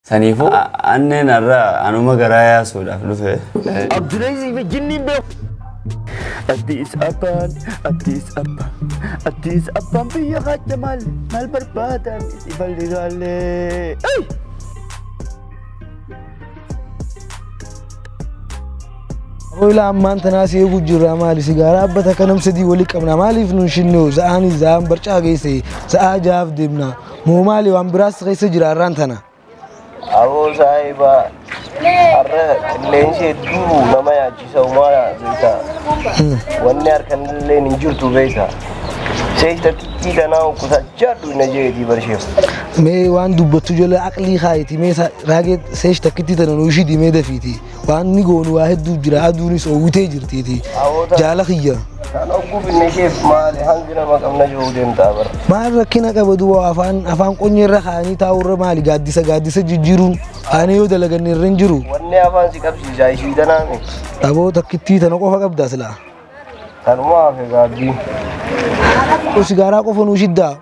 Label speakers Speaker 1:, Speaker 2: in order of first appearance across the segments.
Speaker 1: Saniifuu anneen har'a anuma garaa yaasuudhaaf dhufe. Abdulaziz fi
Speaker 2: jinniin beeku. Addis Abbaan, Addis Abba, Addis Abbaan biyya kaadda maal maal barbaadan itti balligaallee.
Speaker 3: Hoyla ammaan tanaa si eeguu jirra maali sigaaraa abba takka nam sadii wali qabna maaliif nun shinnu za'aani za'aan barcaa geesse za'aa jaaf deemna Moo maali waan biraas keessa jira har'aan tana. Aboo
Speaker 2: saahiba har'a qilleensi hedduu nama yaachisa umaara beekta. Wanni harkan illee hin jirtu beekta. Seeyta xiqqii tanaa qusachaa dhuyna jeetii barsheef. Mee waan
Speaker 3: dubbattu jala aqlii kaayiti mee sa- raagee seesh takkitti tana nuu ishii dimee dafiiti. Waan ni goonu waa hedduu jira aduunis oowwitee jirtiiti. Jaala kiyya. Kan ogguu finne
Speaker 2: isheef maali hangi nama qabna jiru deemtaa bara. Maal rakkina qaba
Speaker 3: duwwa afaan afaan qonyee irra kaanii taa'u irra maali gaaddisa gaaddisa jijjiiruun kaanii yoo dalaganne irra hin jiru. Wanni afaan si
Speaker 2: qabsiisaa ishii danaa miti. Dhaboo takkittii
Speaker 3: tana qofa qabdaa silaa. Kanumaa
Speaker 2: fi gaabbii. Kun
Speaker 3: sigaaraa qofa nuu shiddaa.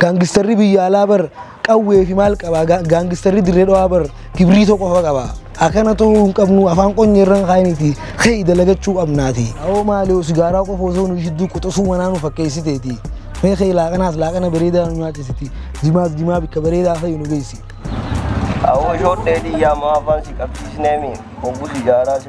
Speaker 3: Gaangistarri biyya alaa bar qawwee fi maal qaba gaangistarri dirree dhawaa bar kibriitoo qofa qaba. Akana ta'uu hin qabnu afaan qonye irra hin kaayiniti ka'e dalagachuu qabnaati. Awoo maali sigaaraa qofa osoo nuu shidduu quxusuu manaa nu fakkeessiteeti. Mee ka'e laaqanaas laaqana bareedaa nu nyaachisiti. Jimaas jimaa bikka bareedaa ka'e nu geessi. Awoo
Speaker 2: shoodhee dhiyyaa maa afaan si qabsiisneemi hoggu sigaaraa si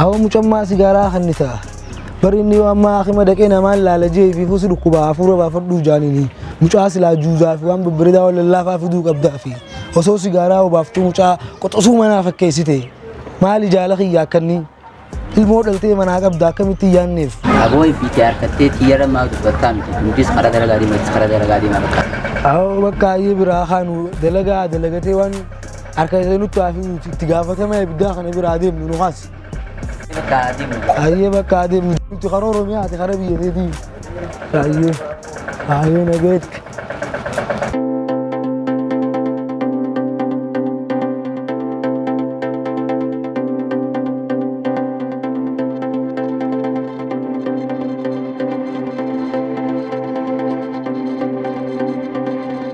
Speaker 2: Ahoo mucan
Speaker 3: maa sigaaraa kannita bari inni yoo ammaa akima dhaqee namaan laala jee fi fusi dhukkubaa hafuura baafadhuu jaanini mucaa silaa juuzaa fi waan babbareedaa waan lallaafaa fiduu qabdaa fi osoo sigaaraa obaaftuu mucaa qoxosuu manaa fakkeessite maali jaala kiyya akkanni ilmoo dhaltee manaa qabda akkamitti yaanneef Aboo ifiitii
Speaker 4: harkattee tiyyara maa dubbattaa miti hundis karaa gara gaarii matis karaa gara gaarii maa bakka. Ahoo bakka
Speaker 3: ayyee biraa kaanu dalagaa dalagatee waan Harka kee nutti haa fiduuti itti gaafatama ibiddaa kana bira haa deemnu nu kaasi. Bakka adeemu. Ayyee bakka haa deemnu nuti karaa Oromiyaa ati karaa biyya keetii. Ayyee ayyee nageetti.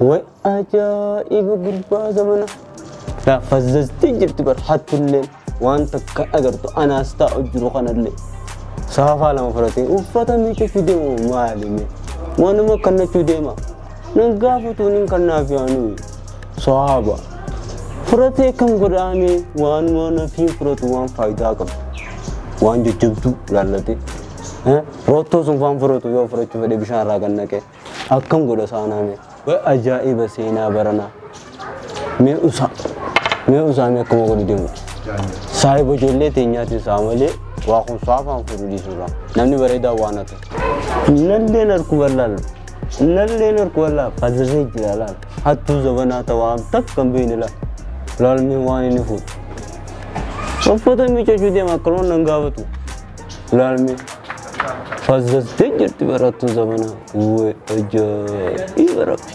Speaker 5: Way ajaa'iba gurbaa zamana. Yaa fazzaztii jirti bar hattulleen waan takka agartu anaas taa'u jiru kanallee. Saafaa lama fudhatee uffata miica fide moo maali mee? Waanuma kannachuu deema. Nan gaafatuun hin kannaaf yaanuu. Saaba. Fudhatee kan godhaame waanuma nafiin fudhatu waan faayidaa qabu. Waan jajjabduu laallatee. Roottoo sun faan fudhatu yoo fudhachuu fedhe bishaan irraa kan naqee. Akkam godha saanaa mee. Way ajaa'iba seenaa baranaa. Mee usaa. Mee usaa mee akkuma godhu deemu. Saahiba ijoollee teenyaatiin saa malee waa kun saafaan fuudhu dhiisuudha. Namni bareedaa waan hatu. Nalleen harku bal'aal. Nalleen harku bal'aa fazirree jira laal. Hattuu zabanaa ta'aa takka hin beekne laal. Laalmee waan inni fuudhu. Uffata miiccachuu deema akkaloon nan gaafatu. Laalmi. Fazzaztee jirti barattuu zamanaa. Wee ajaa'iba rabbi.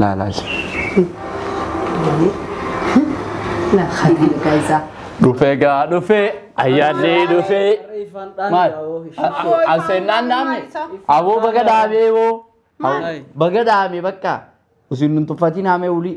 Speaker 5: laalaa isa
Speaker 6: Laa khatii dhugaa isaa. dhufee gaa
Speaker 5: dhufee ayyaanni dhufee maal an seennaan dhaabne aboo baga dhaabee boo Aboo, baga dhaabee bakka isin nun tuffatiin haamee wulii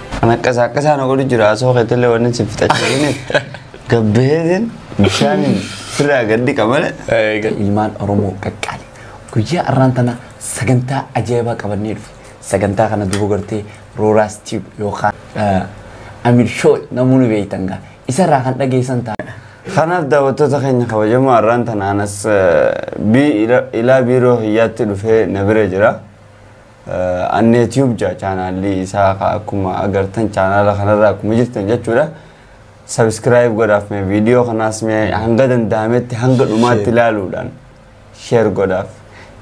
Speaker 1: Kan akkasaa akkasaa na godhu jira asoo keetillee wanni si fixachiifne gabbeetiin bishaan firraa gaddi qabale. Ilmaan
Speaker 5: Oromoo qaqqaali. Guyyaa har'aan tana sagantaa ajaa'ibaa qabannee dhufe. Sagantaa kana duuba gartee Rooraas Tiib yookaan Amir Shoo namoonni beektan gaa. Isarraa kan dhageessan ta'a. Kanaaf daawwattoota
Speaker 1: keenya kabajamoo har'aan tana anas ilaa biiroo hiyyaatti dhufee na bira jira. Annee Tube jedha chaanaalli isaa ka akkuma agartan chaanaala kanarra akkuma jirtan jechuudha. Subscribe godhaaf mee viidiyoo kanaas mee hanga danda'ametti hanga dhumaatti Share. ilaaluudhaan share godhaaf.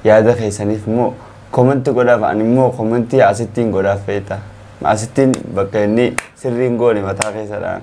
Speaker 1: Yaada keessaniif immoo komenti godhaaf ani immoo komentii asittiin godhaaf feeta. Asittiin bakka inni sirriin goone mataa keessadhaan.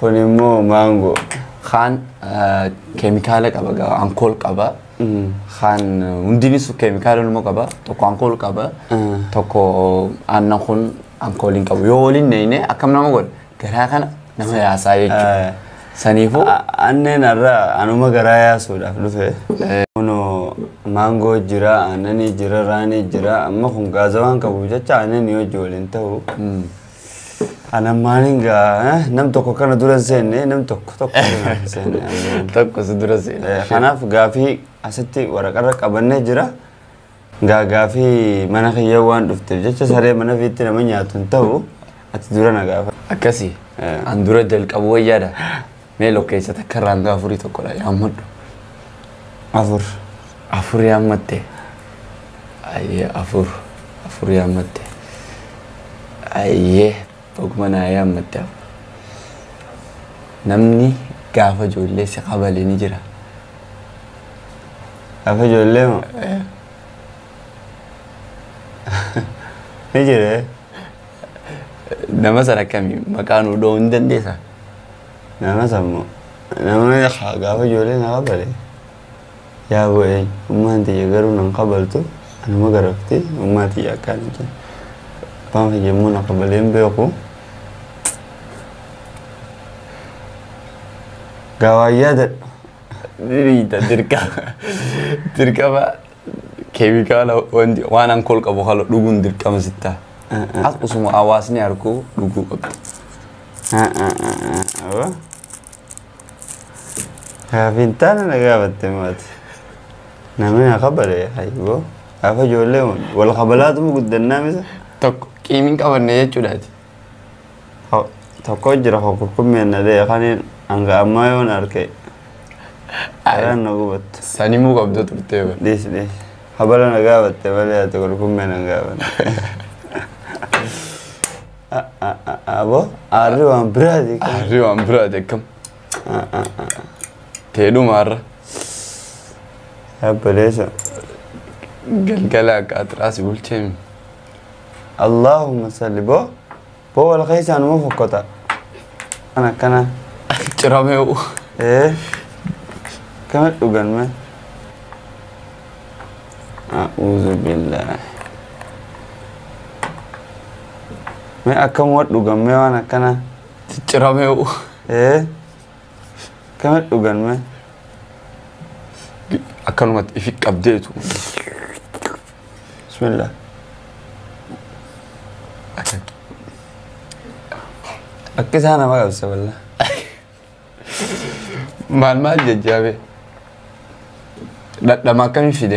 Speaker 1: Kun immoo maangoo. Kaan eh,
Speaker 5: keemikaala qaba gaa ankool qaba. Kaan eh, hundinis keemikaala ilmoo qaba. Tokko ankool qaba. Mm. Tokko aannan kun ankool hin qabu. Yoo waliin neeyne akkam nama godha garaa kana nama yaasaa Eh. jechuudha. Saniifuu A- Aanneen
Speaker 1: har'a anuma garaa yaasuudhaaf dhufe. Kunoo maangoo jira, aannanii jira, raanii jira. Amma kun gaazawaan qabuuf jecha aannanii hojii waliin ta'u. Anan maaliin gaa eh, nam tokko kana dura hin seenne nam tokko tokko dura hin seenne. Anan- Tokko si
Speaker 5: dura seena. Eh, Kanaaf gaafii
Speaker 1: asitti waraqarra qabannee jira. Gaa gaafii mana kiyya waan dhufteef jecha saree mana fiitti nama nyaatu hin ta'u ati dura na gaafa. Akkasi. Eh.
Speaker 5: An dura jalqabu wayyaadha. Mee lokkeessa takka irraa hanga afurii tokkodha yaammadhu. Afur. Afur yaammatte. Ayyee afur. Afur yaammatte. Ayyee baguma naa yaammatte afur. Namni gaafa ijoollee si kabale ni jira. Gaafa
Speaker 1: ijoollee moo? Eh. Ni jira. eh? Nama
Speaker 5: san akkami maqaa nuu dha'uu hin dandeessa? Nama
Speaker 1: san moo nama haa gaafa ijoollee na kabale yaa bo'ee ummaan tiyya garuu nan kabaltu anuma garafti ummaa tiyya akkaan hin jennu. Abbaan kiyya immoo na kabalee hin beeku. Gaawaan yaadadhu. Diriita dirqama dirqama. keemikaala wanti waan ankool qabu haala dhuguun dirqama sitta. As osuma hawaasni harku dhuguu qabda. Gaafiin taana na gaafatte maati. Namni na kabale hayyoo. Gaafa ijoollee wal kabalaatuma guddannaa misa. Tokko qiimiin qabanne jechuudhaati. Ho- Tokko jira ho kurkummeen na dhee kaniin hanga ammaa yoon arke garaan na gubattu. Sanimuu qabda turtee bara. Dhiis dhiis. Habala na gaafatte malee ati kurkummeen hin gaafanne. A- a- a- Aboo aarri waan biraati. kan- Harri waan biraati akkam. Teedhuma har'a. Yaabaleessa. Galgala akka atiraasi bulcheemi. Allahumma salli boo boo wal keessaa numa fokkota kan akkana Ciramee u. ee kama dhugan me a'uuzu billaahi me akkam wa dhugan me waan akkana Ciramee u. ee Gamadhu ganme. Akkanumatti ifi qabdeetu. Bismillah. Akkan. Akka isaa nama qabsa walla. Maal maal jajjaabe. Dhadhama akkamii fide.